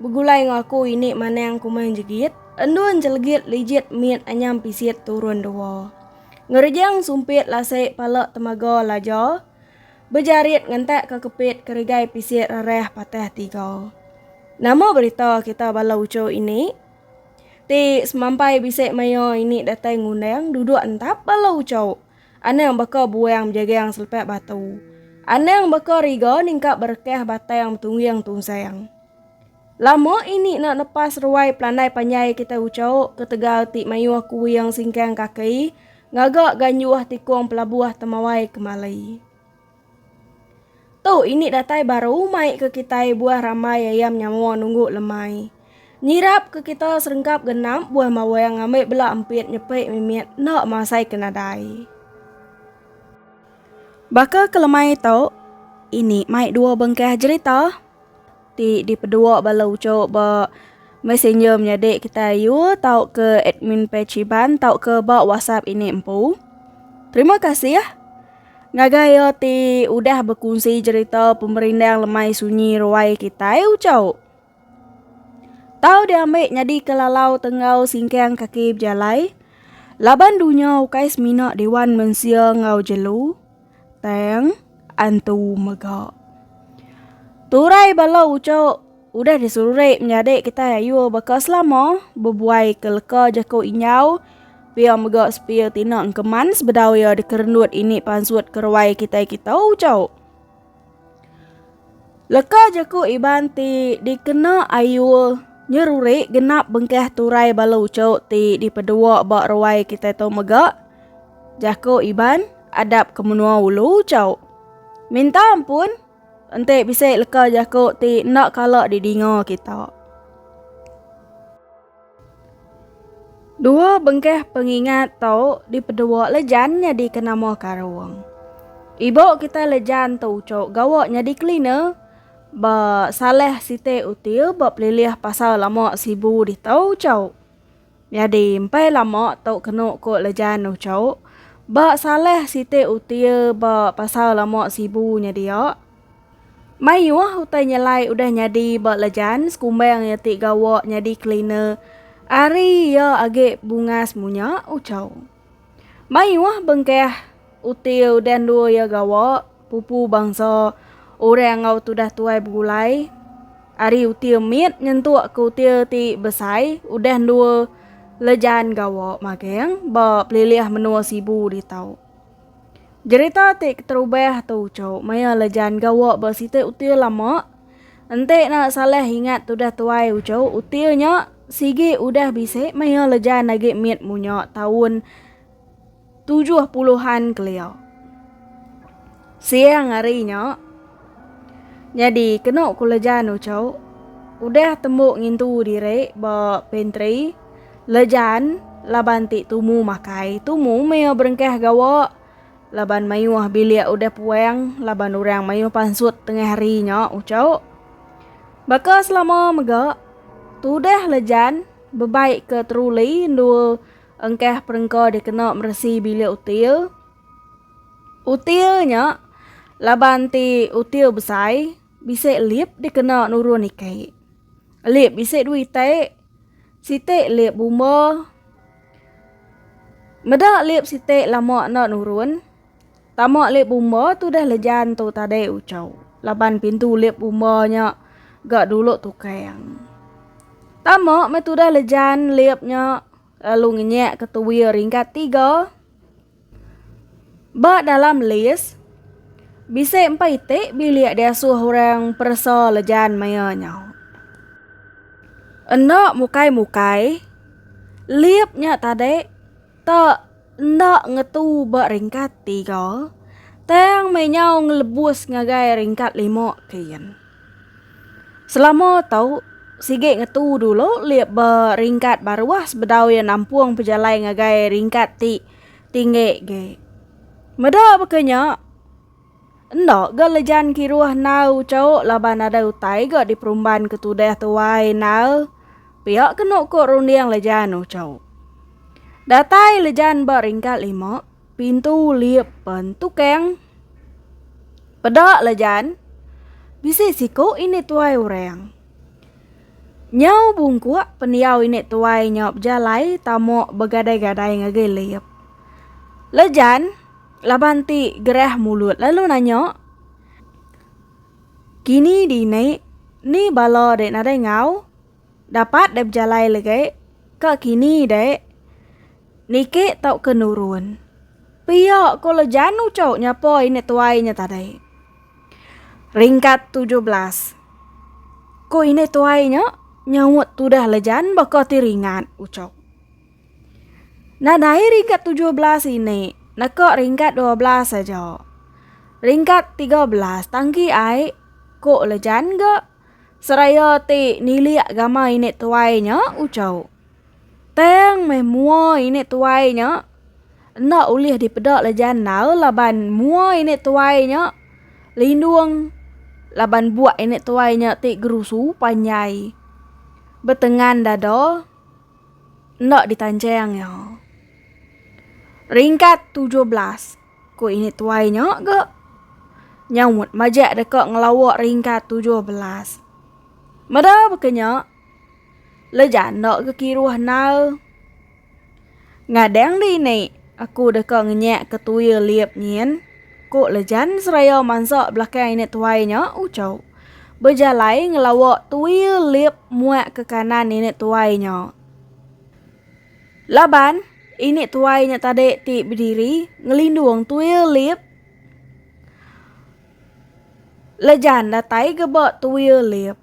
Begulai enggau aku ini manang kumang jegit, endun jelegit lijit mit anyam pisit turun dua. Ngerejang sumpit lasi pala temaga laja, bejarit ngentak ke kepit keregai pisit rerah patah tiga. Nama berita kita bala uchu ini? Ti semampai bisi maya ini datai ngundang duduk entap bala uchu. Anang baka buang bejagang selepak batu. Anang baka riga ningkap berekah batang betungging tunsang. Lama ini nak nepas ruai pelandai panjai kita ucok ketegal ti mayuh kuing singkang kaki ngaga ganyuh tikung pelabuh temawai kemali. Tu ini datai baru mai ke kitai buah ramai ayam nyawa nunggu lemai. Nyirap ke kita serengkap genap buah mawang ngambi bela empit nyepik mimit enda masai ke nadai. Baka ke lemai tu, ini mai dua bengkah jerita. Ti dipedua bala uchu ba Messenger menyadi kitai ayu tauka admin page Iban tauka ba WhatsApp ini empu. Terima kasih ngagai iya ti udah bekunsi jerita pemerindang lemai sunyi ruai kitai uchu. Tau diambi nyadika lalau tenggau singkang kaki bejalai laban dunya ukai semina dewan mensia enggau jelu. Tang antu mega. Turai bala uco udah disurek menyadi kita ayu baka selama bebuai ke leka jaku inyau pia mega sepia tina engkeman sebedau ia dikerendut ini pansut keruai kitai kita uco. Leka jaku Iban ti dikena Ayul nyerurik genap bengkah turai bala uchu ti dipedua ba ruai kitai tu mega jaku Iban adap ke menua ulu uchu. Minta ampun enti bisi leka jaku ti enda kala didinga kita. Dua bengkah pengingat tu dipedua Lejan nyadika nama Karong. Ibu kitai Lejan tu uchu gawa nyadi cleaner ba salah siti hotel ba Pelilih Pasar Lama Sibu ditu uchu. Nyadi empai lama tu kenu ku Lejan uchu ba salah siti hotel ba Pasar Lama Sibu nya dia. Mayuh utai nyelai udah nyadi ba Lejan sekumbang iya ti gawa nyadi cleaner ari iya agi bungas munya Uchau. Mayuh bengkah uti udah endur iya gawa pupu bangsa orang enggau tudah tuai begulai ari uti mit nyentuk ke uti ti besai udah endur Lejan gawa magang ba pelilih menua Sibu ditu. Jerita ti keterubah tu uchu maya le Jan gawa ba siti util lama. Enti ne salah ingat tudah tuai uchu util nya sigi udah bisi maya le Jan agi mit munya taun tujuh puluhan kelia. Siang hari nya. Nyadi kenu ku Lejan Ucok udah tembu ngintu diri ba pantry Lejan laban ti tumu makai tumu meh berengkah gawa laban mayuh bilik udah puang laban orang mayuh pansut tengah hari nya Ucok. Baka selama mega tudah Lejan bebai ke troli endur engkah perengka dikena meresi bilik util. Util nya laban ti util besai bisi lip dikena nurun ike. Lip bisi dua ite, siti lip bumba. Meda lip siti lama enda nurun tama lip bumba tu deh lejan tu tadi uco laban pintu lip bumba nya ga dulu tukang. Tama meh tudah lejan lip nya lalu ngenyek ke tuie ringkat tiga. Ba dalam list, bisi empai iti bilik diasuh orang peresa lejan maya nya. Enda mukai-mukai, lip nya tadi te enda ngetu ba ringkat tiga tang meh nyau ngelebus ngagai ringkat lima kin. Selama tau, sigi ngetu dulu lih ba ringkat baruh sebedau iya nampung pejalai ngagai ringkat ti tinggi agi. Meda baka nya, enda ga lejan kiruh nal uchu laban nadai utai ga diperumban ke tudah tuai nal pia kenu ku runding lejan uchu. Datai lejan ba ringkat lima. Pintu lip pen tukang. Peda la jan. Bisi siku ini tuai orang. Nyau bungkuk pendiau ini tuai nyau bejalai tamuk begadai-gadai ngagai lip. La jan, laban ti gerah mulut lalu nanya. Kini dini, ni bala dek nadai ngau? Dapat deh bejalai legi ka kini dek. Niki tauka nurun. Pia ko le janu cau nyapoi ne tuai nya tadi. Ringkat tujuh belas. Ko ini tuai nya nyaut tudah le jan baka ti ringat ucok. Nadai ringkat tujuh belas ini naka ringkat dua belas aja. Ringkat tiga belas tangki ai ko le jan ga. seraya ti nilik gama ini tuai nya ucau. Tang meh mua ini tuai nya enda ulih dipeda leja endar laban mua ini tuai nya lindung laban buak ini tuai nya ti gerusu panjai betengan dada enda ditancheng iya. Ringkat tujuh belas. ku ini tuai nya ga nyaut majak deka ngelawa ringkat tujuh belas. Meda baka nya, leja enda ga kiruh nal. Ngadang di ini aku deka ngenyak ke tuil liep nyin, ku Lejan seraya mansa belakang ini tuai nya uchu bejalai ngelawa tuil liep muak ke kanan ini tuai nya. Laban, ini tuai nya tadi ti bediri ngelindung tuil lip Lejan datai geba tuil lip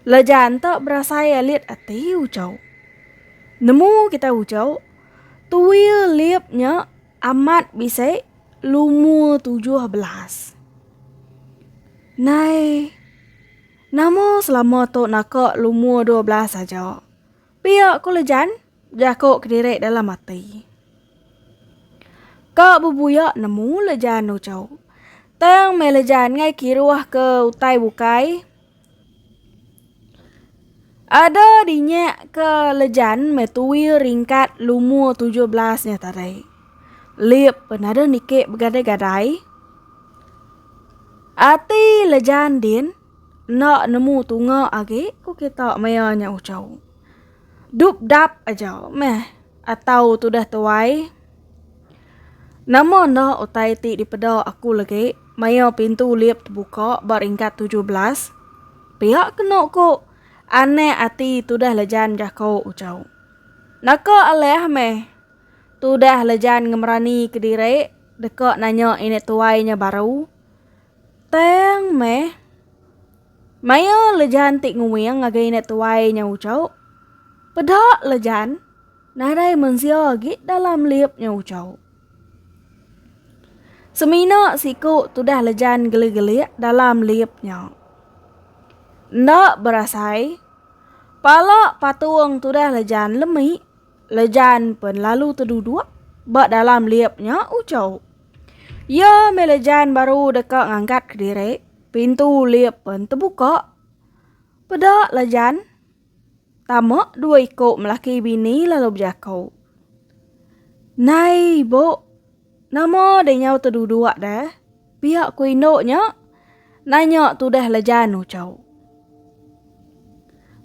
Lejan te berasai alit ati ujau Nemu kitai ujau Tuil lip nya amat bisi lumur tujuh belas Nai nama selama tu naka lumur dua belas aja. Pia ku Lejan, jaku kediri dalam ati. Ka bebuya nemu Lejan Ucho. Tang meh Lejan ngai kiruh ke utai bukai. Ada dinya ke Lejan meh tui ringkat lumur tujuh belas nya tadi. Lip pen ada niki begadai-gadai. Ati Lejan din. Enda nemu tunga agi ku kita maya nya uchu. Dupdap aja meh atau tudah tuai. Nama enda utai ti dipeda aku legi maya pintu lip tebuka ba ringkat tujuh belas? Pia kenu ku anak ati tudah lejan jaku uchu. Naka alah meh tudah lejan ngemerani kediri deka nanya ini tuai nya baru. Tang meh. Maya Lejan ti nguing ngagai anak tuai nya ucau. Peda Lejan nadai mensia agi dalam lip nya ucau. Semina siku tudah Lejan gelik-gelik dalam lip nya. Enda berasai, pala patung tudah Lejan lemi, Lejan pen lalu teduduk ba dalam lip nya ucau. Iya mila Jan baru deka ngangkat kediri, pintu lip pen tebuka. Peda la Jan, tama dua iko melaki bini lalu bejako. Nai ibu, nama deh nyau teduduk deh, pia ku indu nya? Nanya tudah la Jan uchu.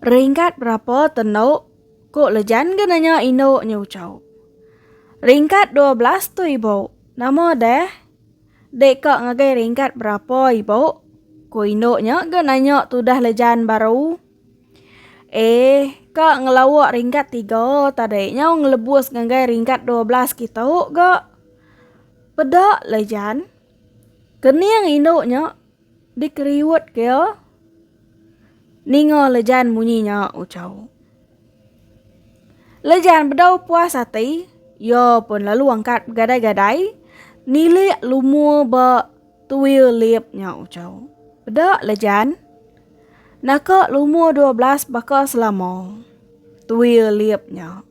Ringkat berapa tendu Ku lejan ga nanya indu nya ucau. Ringkat dua belas tu ibu, nama deh? Dek ka ngagai ringkat berapa ibu? Ku indu nya ga nanya tudah lejan baru. Eh, ka ngelawa ringkat tiga tadi nyau ngelebus ngagai ringkat dua belas kitu ga. Peda lejan. Kening indu nya. Dikeriut ke iya ninga Lejan munyi nya uchauk. Lejan bedau puas ati, iya pun lalu angkat begadai-gadai nilik lumur ba tuil lip nya uchauk. Peda Lejan naka lumur dua belas baka selama tuil lip nya.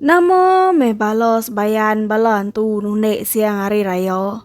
Nama meh bala sebayan bala antu nundi siang hari raya.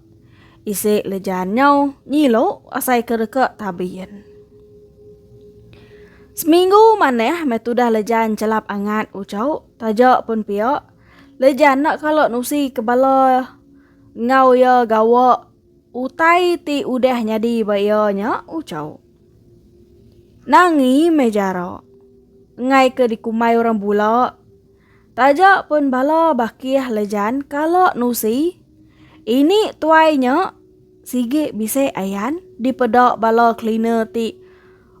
Isi lejan nyau ngilu asai ke reka tabin. Seminggu manah meh tudah lejan chelap angat ucau taja pun pia lejan enda kala nusi ke bala enggau iya gawa utai ti udah nyadi ba iya nya ucau. Nangi meh jara engai ke dikumbai orang bula. Taja pun bala bakih lejan kala nusi, ini tuai nya sigi bisi ayan dipeda bala cleaner ti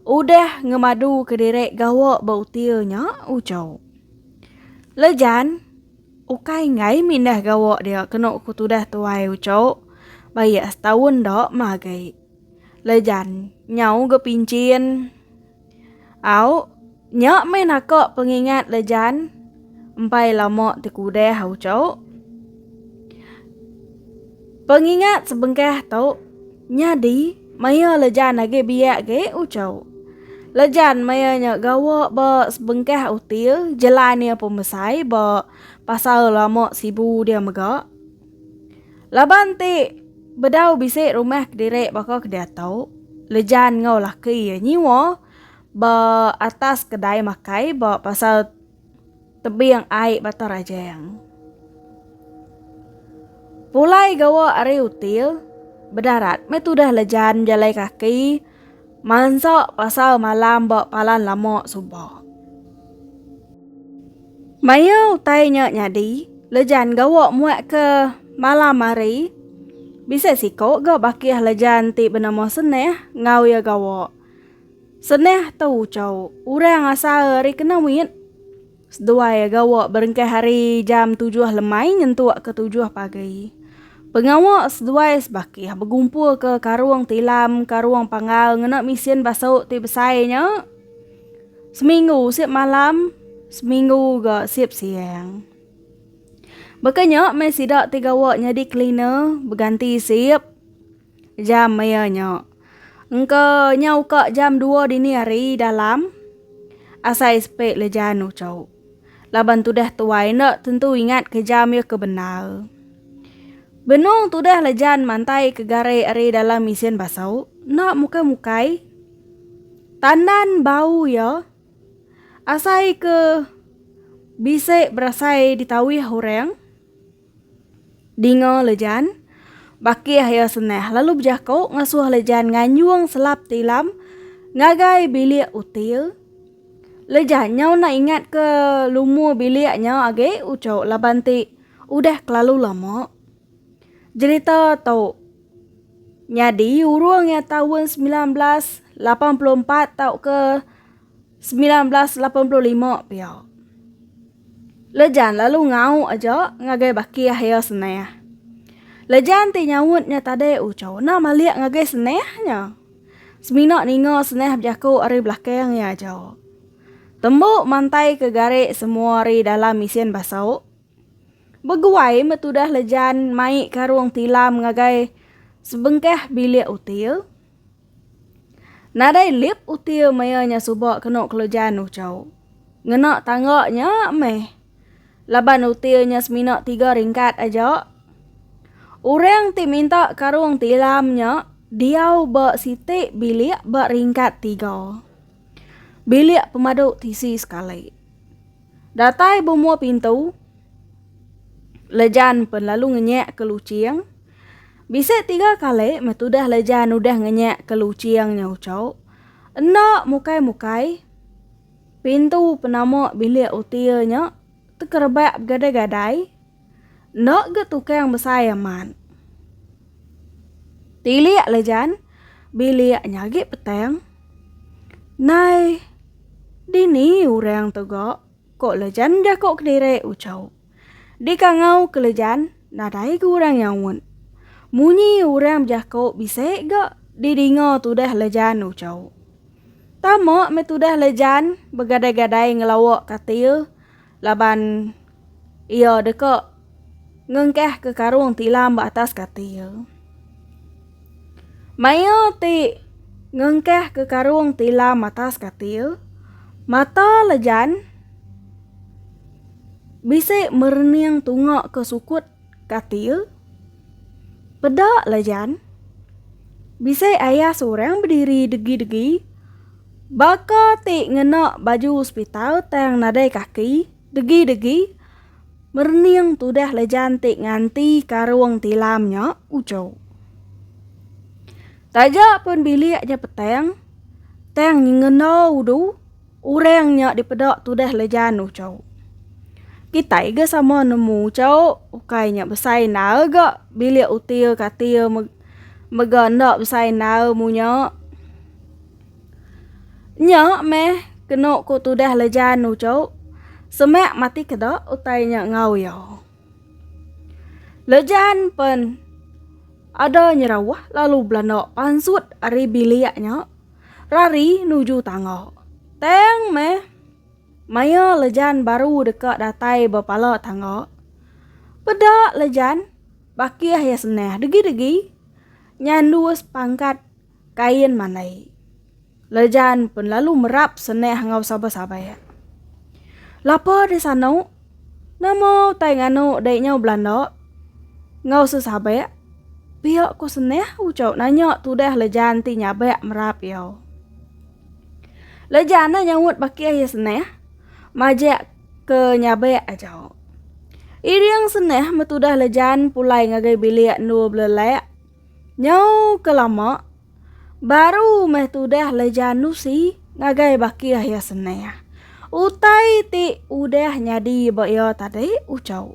udah ngemadu kediri gawa ba util nya uco. Lejan ukai enggai mindah gawa dia kenu ku tudah tuai uco ba iya setaun da magi. Lejan nyau ga pinchin. Au, nya meh naka pengingat le Jan. Empai lama ti ku udah au cu. Pengingat sebengkah tu nyadi maya le Jan agi biak ge u cu. Le Jan maya nya gawa ba sebengkah util jelan ia pemesai ba pasar lama sibu dia mega. Laban ti bedau bisi rumah kediri baka ke diatu, Lejan enggau laki iya nyewa ba atas kedai makai ba pasar Tebing Ai Batang Rajang. Pulai gawa ari util bedarat meh tudah Lejan bejalai kaki mansa pasar malam ba palan lama suba. Maya utai nya nyadi, Lejan gawa muatka malam hari. Bisi siko ga bakih Lejan ti benama Seneh enggau iya gawa. Seneh tu ucau urang asal ari kena mit. Seduai iya gawa berengkah hari jam tujuh lemai nyentuk ke tujuh pagi. Pengawa seduai sebakih begumpulka karung tilam, karung panggal ngena mesin basu ti besai nya. Seminggu sip malam, seminggu ga sip siang. Baka nya meh sida ti gawa nyadi cleaner beganti sip jam maya nya. Engka nya uka jam dua dini hari dalam asai sepe lejan uchu. Laban tudah tuai enda tentu ingat ke jam iya ke bendar. Benung tudah lejan mantai ke gare ari dalam isin basu enda mukai-mukai. Tandan bau iya asai ke bisi berasai ditauih orang dinga lejan bakih iya senah lalu bejako ngasuh lejan nganyung selap tilam ngagai bilik util lejan nyau enda ingat ke lumur bilik nyau agi uchu laban ti udah kelalu lama. Jerita tu nyadi urung iya taun semilan belas lapan puluh empat tauka semilan belas lapan puluh lima pia. Lejan lalu ngau aja ngagai baki Akhir Seneh. Lejan ti nyaut nya tadi uchu enda malik ngagai Seneh nya. Semina ninga Seneh bejaku ari belakang iya aja. Tembu mantai ke gari semua ari dalam isin basu. Beguai meh tudah le Jan mai karung tilam ngagai sebengkah bilik util. Nadai lip util maya nya suba kenu kelo Jan uchau. Ngena tangga nya meh. Laban util nya semina tiga ringkat aja. Orang ti minta karung tilam nya diau ba siti bilik ba ringkat tiga. Bilik pemadu tisi sekali. Datai bemua pintu Lejan pen lalu ngenyak ke luching Bisi tiga kali meh tudah Lejan udah ngenyak ke luching nya ucho Enda mukai mukai Pintu penama bilik util nya tekerebak begadai gadai Enda ga tukang besai amat. Tilik le jan bilik nya agi petang. Nai dini orang tu ga ko le jan jako kediri ucau. Dikangau ke le jan nadai ga orang nyaut. Munyi orang bejako bisi ga didinga tudah le jan ucau. Tama meh tudah le jan begadai-gadai ngelawa katil. Laban iya deka ngengkahka karung tilam ba atas kati iya. Maya ti ngengkahka karung tilam atas kati iya, mata Lejan bisi merening tunga ke sukut Katil, Peda la Jan. Bisi ayah seorang bediri degi-degi. Baka ti ngena baju sepital tang nadai kaki, degi-degi. Merening tudah la Jan ti nganti karung tilam nya ucho. Taja pun bilik nya petang, tang nyengena udu. Orang nya dipeda tudah lejan ucau. Kitai ga sama nemu ucau ukai nya besai endar ga bilik utir katir mega enda besai endar munya. Nya meh kenu ku tudah lejan ucau semak mati keda utai nya enggau iya. Lejan pen ada nyerawah lalu belanda pansut ari bilik nya. Rari nuju tangga. Tang meh. Maya Lejan baru deka datai ba pala tangga. Peda Lejan bakih iya senah degi-degi nyandus pangkat kain mandai. Lejan pen lalu merap senah enggau sabar-sabar. Lapa di sano. Nama utai nganu dai nyau belanda? Enggau sesabak, pia ko senah ucau nanya tudah lejan ti nyabak merap iya. Lejan ne nyaut baka iya senah, majak ke nyabak aja. Iring senah metudah lejan pulai ngagai bilik endur belelak. Nyau ke lama, baru meh tudah Lejan Nusi ngagai bakih iya senang. Utai ti udah nyadi ba iya tadi uchau.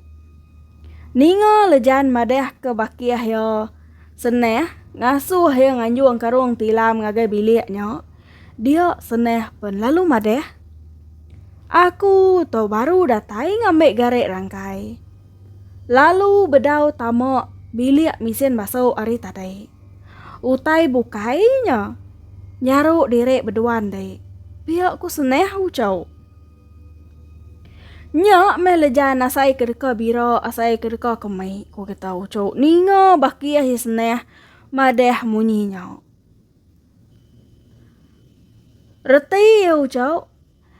Ninga Lejan madahka bakih iya senang ngasuh iya nganjung karung tilam ngagai bilik nya, dia senang pen lalu madah, Aku tu baru datai ngambi gari rangkai. Lalu bedau tama bilik misin basu ari tadi. Utai bukai nya nyaru diri bedua enti. Pia ku Seneh ucau. Nya meh lejan asai ke deka bira asai ke deka kemi ku kita ucu ninga bakih iya Seneh madah munyi nya. Reti iya ucau.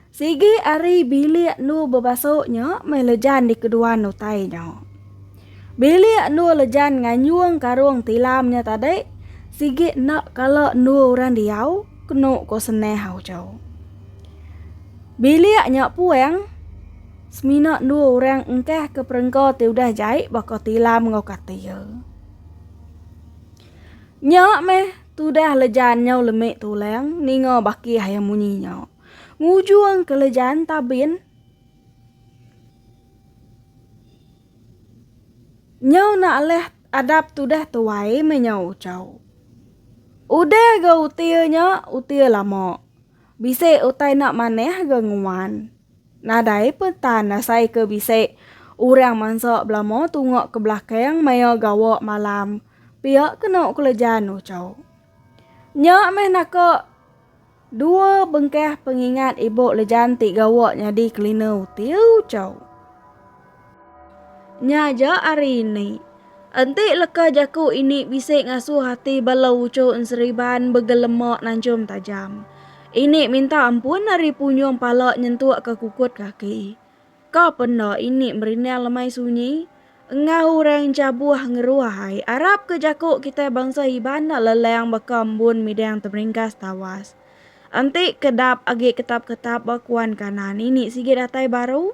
Sigi ari bilik endur bebasuk nya meh Lejan dikeduan utai nya. Bilik endur Lejan nganyung karung tilam nya tadi sigi enda kala endur orang diau, kenu ko Seneh Auchou. Bilik nya puang semina endur orang engkah ke perengka ti udah jai baka tilam enggau katil. Nya meh Tudah lejan nyau lemik tulang ninga baki ayam munyi nya. Ngujung ke lejan tabin. Nyau nak leh adap tudah tuai meh nyau ucau. Udah ga utir nya utir lama. Bisik utai nak manah ga nguan. Nadai pun tan asai ke bisi urang mansa belama tunga ke belakang maya gawa malam pia kenu Kulajan ucau. Nya meh naka dua bengkah pengingat ibu Lejan ti gawa nyadi kelina util ucau. Nya aja ari ini. Enti leka jaku ini bisi ngasuh ati bala uchu enseriban begelema nanchum tajam. Ini minta ampun ari punyung pala nyentukka kukut kaki. Ka penda ini merinding lemai sunyi? Enggau orang chabuh ngeruh ai arapka jaku kitai bansa Iban enda leleng baka embun midang temeringkas tawas. Enti kedap agi ketap-ketap ba kuan kanan ini sigi datai baru?